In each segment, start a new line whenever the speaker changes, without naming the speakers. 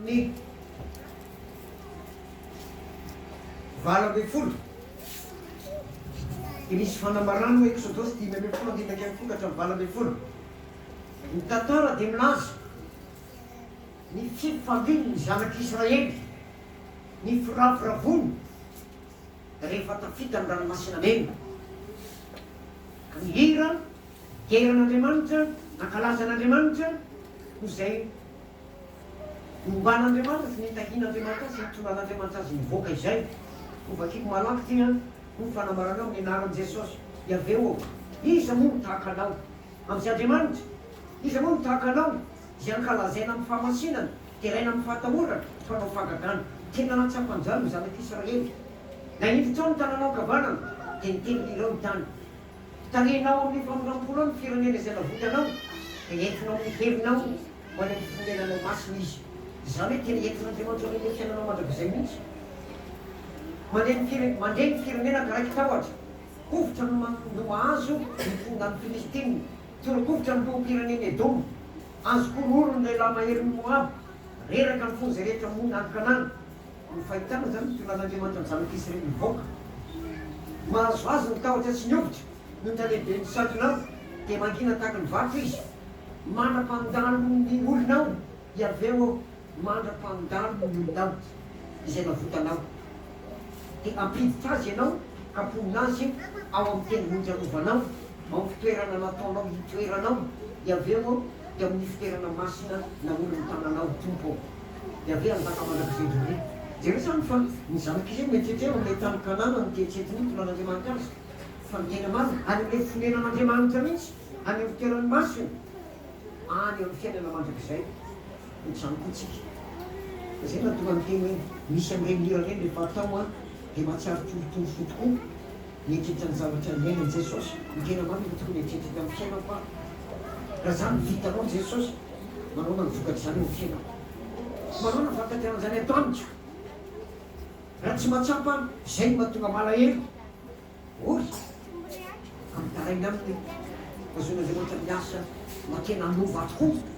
Ny valo ambin'ny folo, dia misy fanambarana ao Eksodosy dimy ambin'ny folo andininy iraika ambin'ny folo ka hatramin'ny valo ambin'ny folo. Ny tantara dia milaza ny fifalian'ny zanak'Israely, ny firavoravoany rehefa tafita ny Ranomasina Mena, ka nihira dera an'Andriamanitra, nankalaza an'Andriamanitra, noho izay Omban'Andriamanitra sy ny tahian'Andriamanitra azy sy ny tondrahan'Andriamanitra azy mivoaka izay. Ho vakiko malaky ity an! Ho fanambarana aho ny anaran'i Jesosy, Iaveh ô! Iza moa no tahaka anao? Amin'izay Andriamanitra! Iza moa no tahaka anao? Izay ankalazaina amin'ny fahamasinana, deraina amin'ny fahatahorana, mpanao fahagagana. Tena nahatsapanjano ny zanak'Israely. Nahendry tao ny tananao ankavanana, dia niteny ireo ny tany. Talenao amin'ny famindram-pona ao ny firenena izay navotanao, dia entinao amin'ny herinao ho any amin'ny fonenanao masina izy. Izany hoe tena entin'Andriamanitra amin'ny ilay fiainanao mandrakizay mihitsy. Mandre ny fire, mandre ny firenena ka raikitra ohatra. Hovitra no ma, no mahazo ny mponina any Filistina. Torokovitra ny loham-pirenen'i Edoma. Azo kororonin'ilay lahy maherin'i Moaba. Reraka ny fon'izay rehetra monina any Kanana. Ny fahitana izany ny tonan'Andriamanitra ny zanak'i Israely mivoaka. Mahazo azy ny tahotra sy ny hovitra, ny talehiben'ny mpisintona ao dia mangina tahaka ny vato izy. Mandra-pandalo ny olonao, Iaveh ô, mandra-pandalo ny olonao, izay navotanao. Dia hampiditra azy ianao ka haponina azy ao amin'ny tendrombohitra arovanao, ao amin'ny fitoerana nataonao hitoerana ao, Iaveh ô, dia amin'ny fitoerana masina naorin'ny tananao, Tompo ô. Yaveh hanjaka mandrakizay indray andro. Jereo izany fa ny zanak'i Israely mieritreritra eo amin'ilay tany Kanana no teritreritry ny mpinoan'Andriamanitra azy fa miaina marina, any amin'ilay fonenan'Andriamanitra mihitsy, any amin'ny fitoerany masina, any amin'ny fiainana mandrakizay. Ohatr'izany koa tsika. Izay no nahatonga ny teny hoe misy amin'ireny hira ireny rehefa atao dia mahatsiaro torotoro fo tokoa. Mieritreritra ny zavatra niainan'i Jesosy, ny tena marina tokony hieritreritra tamin'ny fiainako aho. Raha izany no vitanao Jesosy, manaona ny vokatr'izany eo amin'ny fiainako? Manaona ny fankatrehan'izany ato amiko? Raha tsy mahatsapa aho, izay no mahatonga malahelo. Ory amin'ny tarainy aminy. Azon'Andriamanitra miasa mba te-nanova ahy tokoa.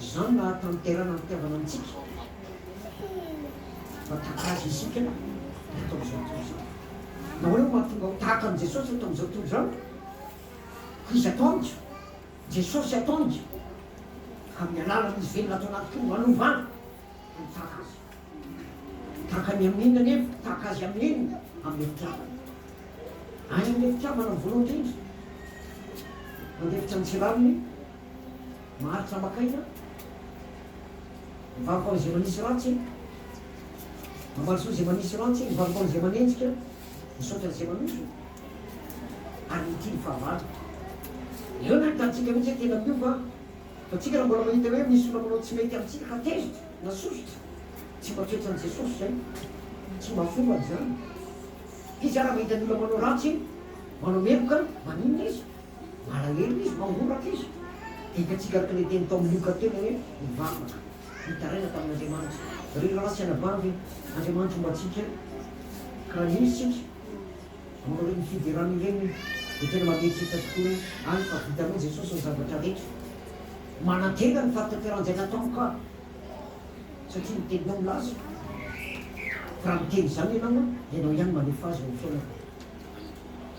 Izany no hahatanterana ny fitiavana amintsika fa tahaka Azy isika eto amin'izao tontolo izao. Na hoe ho mahatonga ho tahaka an'i Jesosy eto amin'izao tontolo izao, koa izy atao amiko, Jesosy atao amiko, amin'ny alalan'Izy velona ato anatiko no anovana ho tahaka Azy. Tahaka ny amin'inona anefa? Tahaka Azy amin'inona? Amin'ny fitiavana. Aiza ilay fitiavana voalohany indrindra? Mandefitra ny tsirariny Maharitra maka aina Mivaroka an'izay manisy ratsy Mamarosoa izay manisy ratsy Mivaroka an'izay manenjika Misaotra an'izay manozona Ary mitia ny fahavalo Ireo no ahitantsika mihitsy hoe tena miova Fa tsika raha mbola mahita hoe misy olona manao tsy mety amintsika ka tezitra na sosotra Tsy mba toetran'i Jesosy izay Tsy mba fombany izany Izy ary raha mahita ny olona manao ratsy Manao meloka Maninona izy? Malahelo izy, mangoraka izy. Dia hitantsika araka ilay teny tao amin'ny Lioka teo hoe nivavaka, nitaraina tamin'Andriamanitra. Ry rahalahy sy anabavy, Andriamanitra homba antsika ka raha izy isika manao ireny fiderana ireny dia tena mampietsetra tokoa hoe any fa vitanao Jesosy ny zavatra rehetra. Manantena ny fahatanterah'izay nataonao ka satria ny teninao milaza fa raha miteny izany ianao dia ianao ihany manefa azy eo amin'ny fiainako.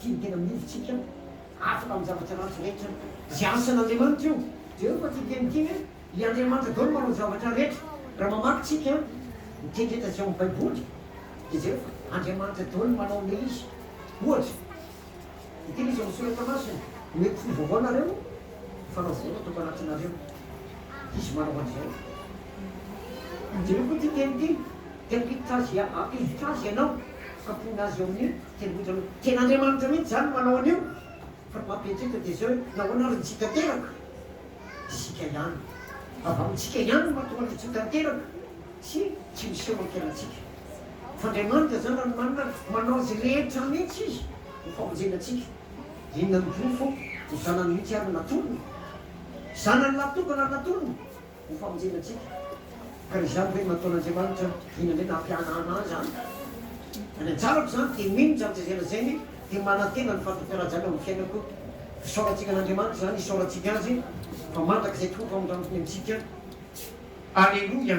Tia ny tena miory tsika afaka amin'ny zavatra ratsy rehetra zay asan Andriamanitra io Jereo fa tsy teny ity hoe i Andriamanitra daolo manao ny zavatra rehetra raha mamaky tsika ny teny rehetra zay ao amin'ny baiboly dia jereo fa Andriamanitra daolo manao ilay izy ohatra ny teny izy ao amin'ny soratra masina omeko fo vaovao nareo fanao vaovao no ataoko anatinareo izy manao an'izay jereo fa ity teny ity dia ampiditra azy hevitra azy ianao kapohina azy eo amin'ny Tendrombohitra aloha. Tena Andriamanitra mihitsy izany no manao an'io fa ny maha be indrindra dia izao hoe nahoana ary ny tsy tanteraka? Isika ihany. Avy amintsika ihany no mahatonga ny tsy tanteraka sy tsy miseho ankerantsika. Fa Andriamanitra izany ranomanina ary manao azy rehetra mihitsy Izy ho famonjena antsika. Inona no porofo ho zanany mihitsy ary ny natolony? Zanany lahy tokana ny natolony. ho famonjena antsika. Ka raha izany ve no nataon'Andriamanitra, inona indray no hampianahana azy any? Raha ny anjarako izany dia mino izany tsy izay lazainy dia manantena ny fahatokarajan'ny ao amin'ny fiainako. Fisaorantsika an'Andriamanitra izany, isaorantsika Azy fa mandrakizay tokoa ny famindraminy antsika. Aleloia!